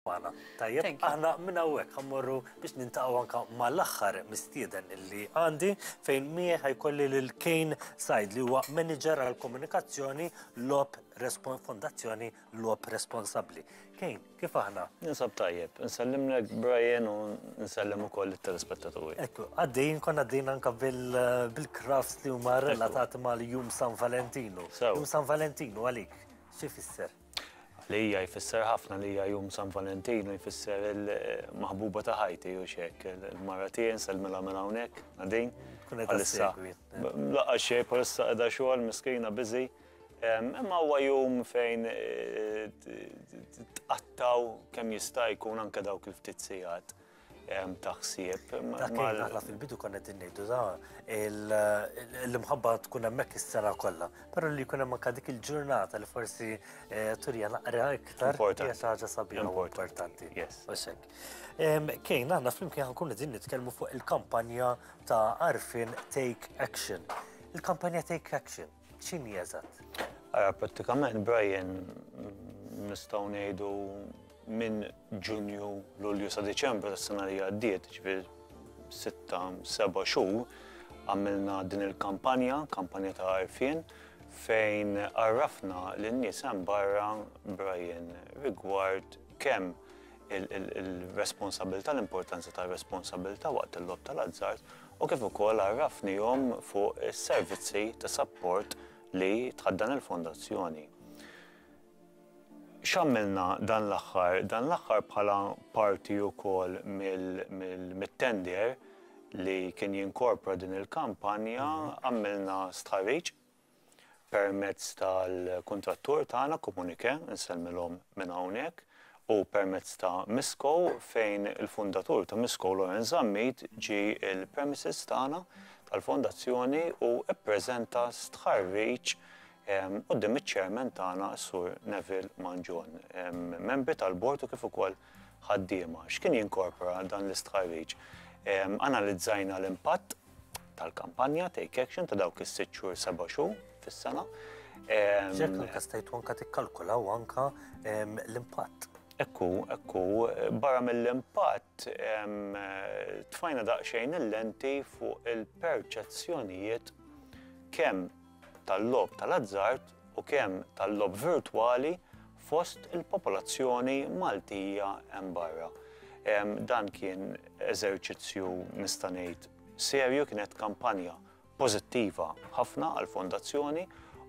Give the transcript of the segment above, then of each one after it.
magħna. Tajjeb, aħna minn hawnhekk ħammorru biex nintaqgħu anke mal-aħħar mistieden li għandi fejn miegħi ħajkolli lil Kane Said li huwa Manager għall-Komunikazzjoni Logħob Fondazzjoni Logħob Responsabbli. Kane, kif aħna? Ninsab tajjeb, nsellimlek Brian u nsellem ukoll it-telespettaturi. Ekku, għaddejn kon għaddejn anke bil-crafts li huma relatati mal-Jum San Valentinu. Jum San Valentinu għalik, xi fisser? Għalija jfisser ħafna li hija jum San Valentin u jfisser il-maħbuba ta' ħajti u xek. Il-mara tiegħi nsellmilha minn hawnhekk, Nadin. Għalissa. Laqqa xej, palissa qiegħda xogħol, miskina biżi. Imma huwa jum fejn eh, tqattaw kemm jista' jkun anke dawk il-ftit sigħat. ta' ħsieb. Dak li aħna fil-bidu konna qed ngħidu da l-imħabba tkun hemmhekk is-sena kollha, però li jkun hemm anke dik il-ġurnata li forsi eh, turja naqra iktar hija xi ħaġa sabiħa importanti. Kejn aħna flimkien ħankun qegħdin nitkellmu fuq il-kampanja ta' Arfin Take Action. Il-kampanja Take Action X'inhi eżatt? Ara, prattikament Brian nistgħu ngħidu minn Ġunju, Lulju sa Diċembru tas-sena li għaddiet, ġifier sitta, seba' xhur, għamilna din il-kampanja, kampanja ta' għarfien, fejn għarrafna lin-nies hemm barra Brian rigward kemm il-responsabilità, l-importanza tar-responsabilità waqt il-logħob tal-azzard u kif ukoll għarrafnihom fuq is-servizzi ta' sapport li tħaddan il-Fondazzjoni. X'għamilna dan l-aħħar? Dan l-aħħar bħala parti wkoll mit-tender li kien jinkorpra din il-kampanja għamilna stħarriġ permezz tal-kuntrattur tagħna Comuniqué, insellmilhom minn hawnhekk, u permezz ta' Misco fejn il-fundatur ta' Misco Lawrence Zammit ġie l-premises tagħna tal-fondazzjoni u ppreżenta stħarriġ quddiem iċ-chairman tagħna s-Sur Neville Mangion, membri tal-board u kif ukoll ħaddiema. X'kien jinkorpora dan l-istħarriġ? Analizzajna l-impatt tal-kampanja Take Action ta' dawk is-sitt xhur, seba' xhur fis-sena. Ġek anka stajtu anka tikkalkulaw anka l-impatt. Ekku, ekku, barra mill-impatt tfajna daqsxejn il-lenti fuq il-perċezzjonijiet kemm tal-logħob tal-azzard u kemm tal-logħob virtwali fost il-popolazzjoni Maltija hemm barra. Dan kien eżerċizzju nista' ngħid serju, kienet kampanja pożittiva ħafna għall-Fondazzjoni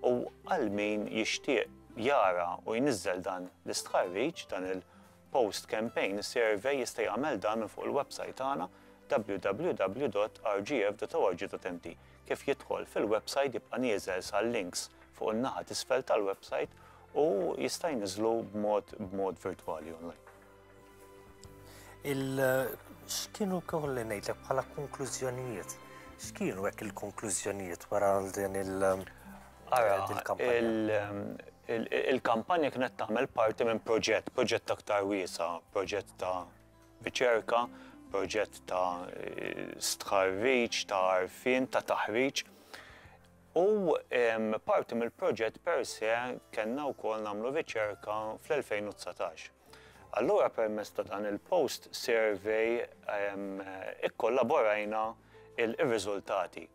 u għal min jixtieq jara u jniżżel dan l-istħarriġ, dan il- Post Campaign Survey jista' jagħmel dan minn fuq il-websajt tagħna www.rgf.org.mt. Kif jidħol fil-websajt jibqa' nieżel sal-links fuq in-naħa t'isfel tal-websajt u jista' jniżżlu b'mod b'mod virtwali online. Il x'kienu kolli ngħidlek bħala konklużjonijiet? X'kienu hekk il-konklużjonijiet wara għal din il- Ara, il-kampanja kienet tagħmel parti minn proġett, proġett aktar wiesa, proġett ta' riċerka, proġett ta' stħarriġ, ta' arfin, ta' taħriġ. U parti mill-proġett per se kellna wkoll nagħmlu riċerka fl-2019. Allura permezz ta' dan il-post survey ikkollaborajna il-riżultati.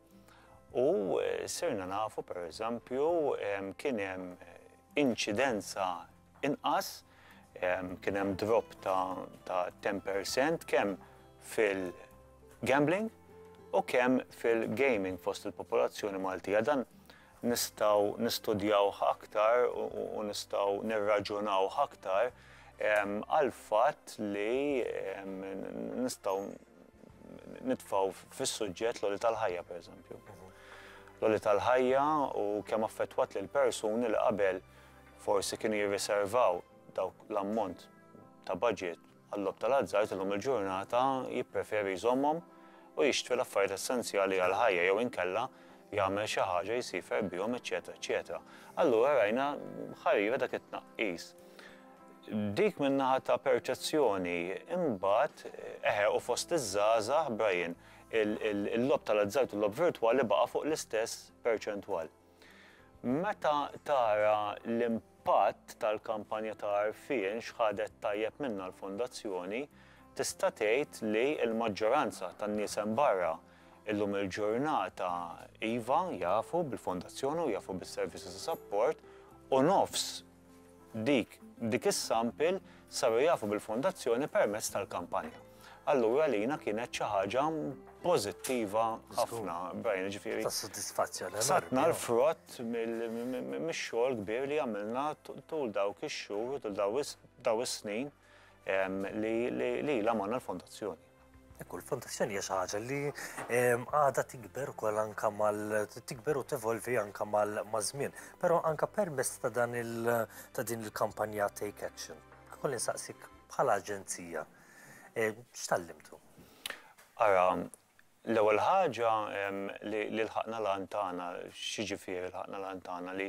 U sirna nafu pereżempju kien hemm inċidenza inqas, kien hemm drop ta' 10% kemm fil-gambling u kemm fil-gaming fost il-popolazzjoni Maltija. Dan nistgħu nistudjawh aktar u nistgħu nirraġunawh aktar għall-fatt li nistgħu nitfgħu fis-suġġett l-għoli tal-ħajja pereżempju. L-għoli tal-ħajja u kemm affettwat lil persuni li qabel forsi kienu jirriservaw dawk l-ammont ta' budget għall-lob tal-azzard illum il-ġurnata jippreferi jżommhom u jixtri l-affarijiet essenzjali għall-ħajja jew inkella jagħmel xi ħaġa jsifer bihom, eċetera, eċetera. Allura rajna ħarira dak it-tnaqqis. Dik min-naħa ta' perċezzjoni. Imbagħad, eħe, u fost iż-żgħażagħ, Brian, il-logħob tal-azzard u l-logħob virtwali baqa' fuq l-istess perċentwal. Meta tara l-impatt tal-kampanja ta' għarfien x'ħadet tajjeb minnha l-Fondazzjoni, tista' tgħid li l-maġġoranza tan-nies hemm barra illum il-ġurnata iva, jafu bil-Fondazzjoni u jafu bis-servizzi ta' sapport u nofs Dik, dik is-sample saru jafu bil-Fondazzjoni permezz tal-kampanja. Allura għalina kienet xi ħaġa pożittiva ħafna, Brian, jiġifieri. Ta' sodisfazzjon. Satna l-frott mix-xogħol kbir li għamilna tul dawk ix-xhur, tul daw is-snin. li ilha magħna l-fondazzjoni. Ekku, l-fondazzjoni hija xi ħaġa li għadha tikber ukoll anke mal tikber u tevolvi anke mal-żmien. Però anke permess ta' dan il ta' din il-kampanja Take Action. Kolli nsaqsik bħala aġenzija, x'tallimtu? Ara, L-ewwel ħaġa li lħaqna l-għan tagħna. X'jiġifieri lħaqna l-għan tagħna? Li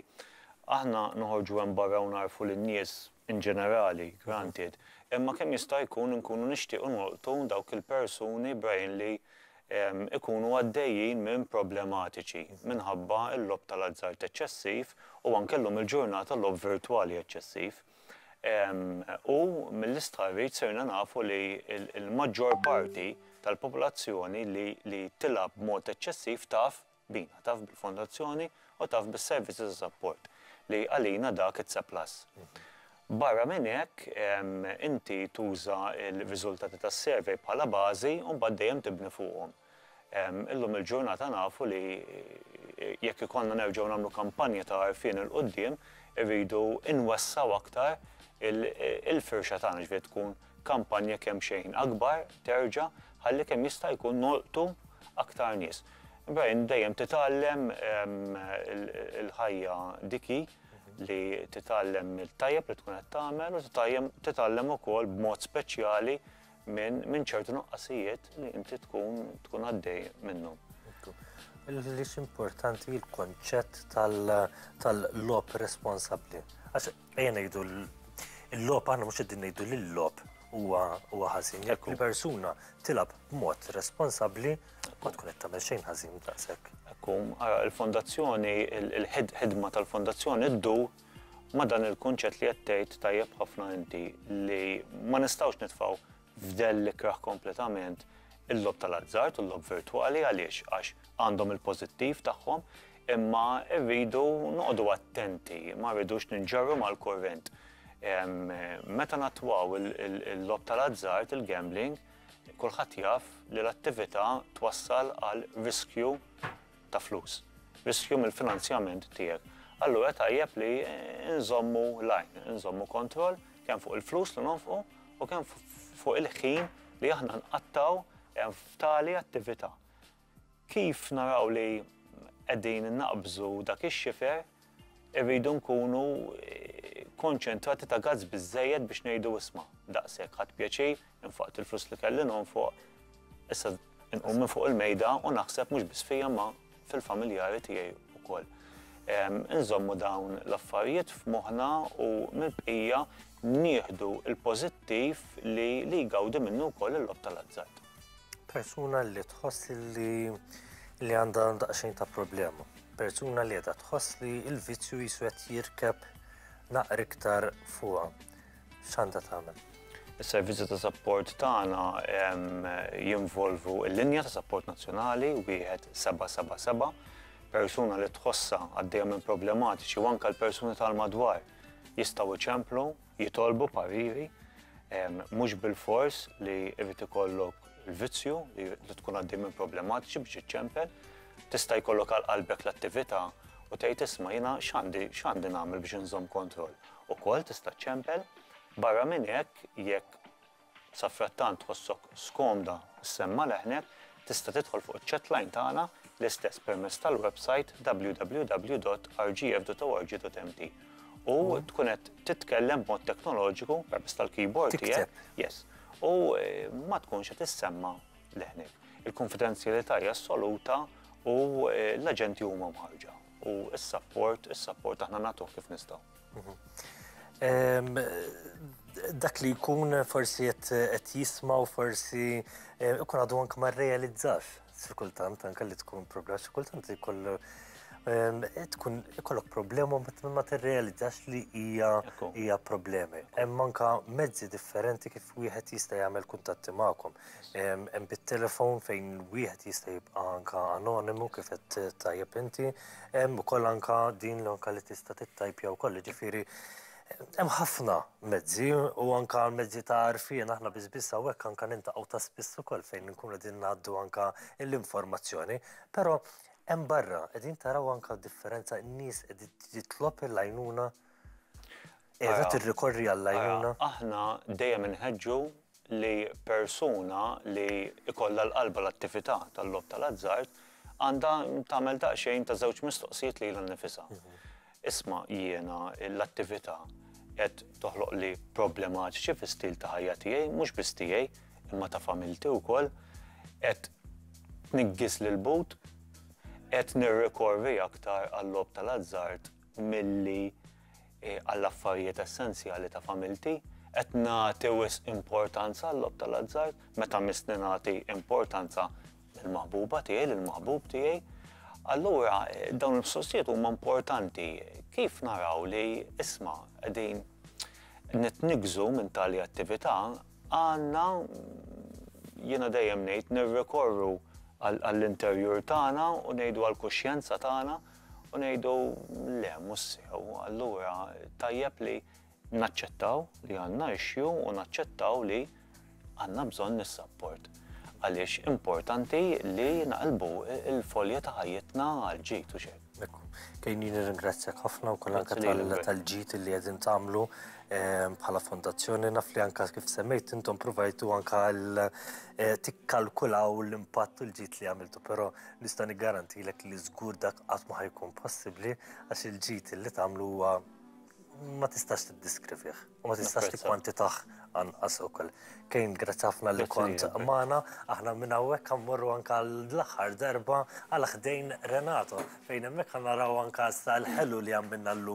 aħna noħorġu hemm barra u ngħarrfu lin-nies in ġenerali, granted, imma kemm jista' jkun inkunu nixtiequ nolqtu dawk il-persuni b'għajn li jkunu għaddejjin minn problematiċi minħabba l-logħob tal-azzard eċċessiv u anke llum il-ġurnata logħob virtwali eċċessiv. U mill-istħarriġ sirna nafu li l-maġġor parti tal-popolazzjoni li tilgħab b'mod eċċessiv taf bina, taf bil-Fondazzjoni u taf bis-servizzi ta' sapport, li għalina dak it's a plus. Barra minn hekk, inti tuża l-riżultati tas-survey bħala bażi u mbagħad dejjem tibni fuqhom. Illum il-ġurnata nafu li jekk ikollna nerġgħu nagħmlu kampanja ta' għarfien 'il quddiem irridu nwessgħu aktar il-firxa tagħna, jiġifieri tkun kampanja kemm xejn akbar terġa' ħalli kemm jista' jkun nolqtu aktar nies. Brian, dejjem titgħallem, il-ħajja dik hi li titgħallem mit-tajjeb li tkun qed tagħmel u titgħallem ukoll b'mod speċjali minn min ċertu nuqqasijiet li inti tkun tkun għaddej minnhom. Li importanti l-konċett tal-lob responsabbli. Għax ejja ngħidu l-lob aħna mhux qegħdin ngħidu l lob huwa ħażin. Jekk il-persuna tilab b'mod responsabbli ma tkun qed tagħmel xejn ħażin daqshekk. Ekku, il-fondazzjoni, il-ħidma tal-fondazzjoni ddu Ma' dan il-kunċett li qed tgħid tajjeb ħafna inti li ma nistgħux nitfgħu f'dell l-ikrah kompletament il-logħob tal-azzard u l-logħob virtwali għaliex għax għandhom il-pożittiv tagħhom imma rridu noqogħdu attenti ma rridux ninġarru mal-kurrent. Meta nattwaw il-logħob tal-azzard, il-gambling, kulħadd jaf li l-attività twassal għal riskju ta' flus, riskju mill-finanzjament tiegħek, allura tajjeb li nżommu l-għajn, nżommu kontroll kemm fuq il-flus li nonfqu u kemm fuq il-ħin li aħna nqattgħu f'tali attività. Kif naraw li qegħdin naqbżu dak ix-xifer Irridu nkunu konċentrati ta' gazz biżżejjed biex ngħidu isma' daqshekk ħadd pjaċir, infaqt il-flus li kelli nonfoq, issa nqum minn fuq il-mejda u naħseb mhux biss fija ma' fil-familjari tiegħi wkoll. Inżommu dawn l-affarijiet f'moħħna u mill-bqija nieħdu l-pożittiv li jgawdi minnu wkoll il-logħob tal-azzard. Persuna li tħoss li li għandha daqsxejn ta' problema. Persuna li għedha tħoss li il-vizzju jisu qed jirkeb naqr iktar fuqha. X'għandha tagħmel? Is-servizzi ta' sapport tagħna jinvolvu l-linja ta' sapport nazzjonali wieħed 777 persuna li tħossha għaddejja minn problematiċi u anke l-persuni tal-madwar jistgħu iċemplu jitolbu pariri, mhux bilfors li jrid ikollok il-vizzju li tkun għaddej minn problematiċi biex iċċempel, tista' jkollok għal qalbek l-attività u tgħid isma' jiena x'għandi x'għandi nagħmel biex inżomm kontroll. Ukoll tista' ċċempel, barra minn hekk jekk Safrattant tħossok skomda ssemma' leħnek, tista' tidħol fuq iċ-chat line tagħna l-istess permezz tal-websajt www.rgf.org.mt u tkun qed titkellem b'mod teknoloġiku permezz tal-keyboard tiegħek, yes, u ma tkunx qed issemma' leħnek. Il-kunfidenzjalità hija assoluta u l-aġenti huma mħarrġa u s-sapport, is-sapport aħna nagħtuh kif nistgħu. Dak li jkun forsi qed jisma' u forsi jkun għadu anke ma rrealizzax xi kultant anke li tkun problema xi kultant jkollu tkun ikollok problema ma tirrealizzax li hija hija problemi. Hemm anke mezzi differenti kif wieħed jista' jagħmel kuntatti magħkom. Hemm bit-telefon fejn wieħed jista' jibqa' anke anonimu kif qed tajjeb inti. Hemm ukoll anka din li anka li tista' tittajpja wkoll, jiġifieri hemm ħafna mezzi u anka mezzi ta' għarfien aħna biss biss hawnhekk anka nintaqgħu ta' spiss ukoll fejn inkunu qegħdin ngħaddu anka l-informazzjoni. Però hemm barra qegħdin taraw anka differenza n-nies qed jitlob l-għajnuna? Qiegħda tirrikorri għall-għajnuna. Aħna dejjem inħeġġu li persuna li jkollha l-qalba l-attività tal-logħob tal-azzard għandha tagħmel daqsxejn ta' żewġ mistoqsijiet lilha nnifisha. Isma' jiena l-attività qed toħloqli problematiċi fis-stil ta' ħajja tiegħi, mhux biss tiegħi, imma ta' familti wkoll, qed tniggis l-but, qed nirrikorri aktar għal-logħob tal-azzard milli għall-affarijiet essenzjali ta' familti. Qed nagħti wisq importanza għal-logħob tal-azzard meta missni nagħti importanza lill-maħbuba tiegħi, lill-maħbub tiegħi. Allura dawn il-mistoqsijiet huma importanti kif naraw li isma' qegħdin nitniggżu minn tali attività għandna jiena dejjem ngħid nirrikorru għall-interjur tagħna u ngħidu għall-kuxjenza tagħna u ngħidu le mhux sew, allura tajjeb li naċċettaw li għandna issue u naċċettaw li għandna bżonn is-sapport. Għaliex importanti li naqlbu il-folja ta' ħajjitna għal ġid u xejn. Kejni nirringrazzjak ħafna wkoll anke tal-ġid li qegħdin tagħmlu ehm, bħala fondazzjoni naf li anke kif semmejt intom provajtu anke eh, tikkalkulaw l-impatt u l-ġid li għamiltu, però Nista' niggarantilek li żgur dak qatt ma ħajkun possibbli għax il-ġid li tagħmlu huwa ma tistax tiddiskrivih u ma tistax tikkwantitah anqas ukoll. Kejn grazzi ħafna li kont magħna, aħna minn hawnhekk mmorru anke l-aħħar darba għal ħdejn Renato fejn hemmhekk ħa naraw anke issa l-ħelu li għamilna llum.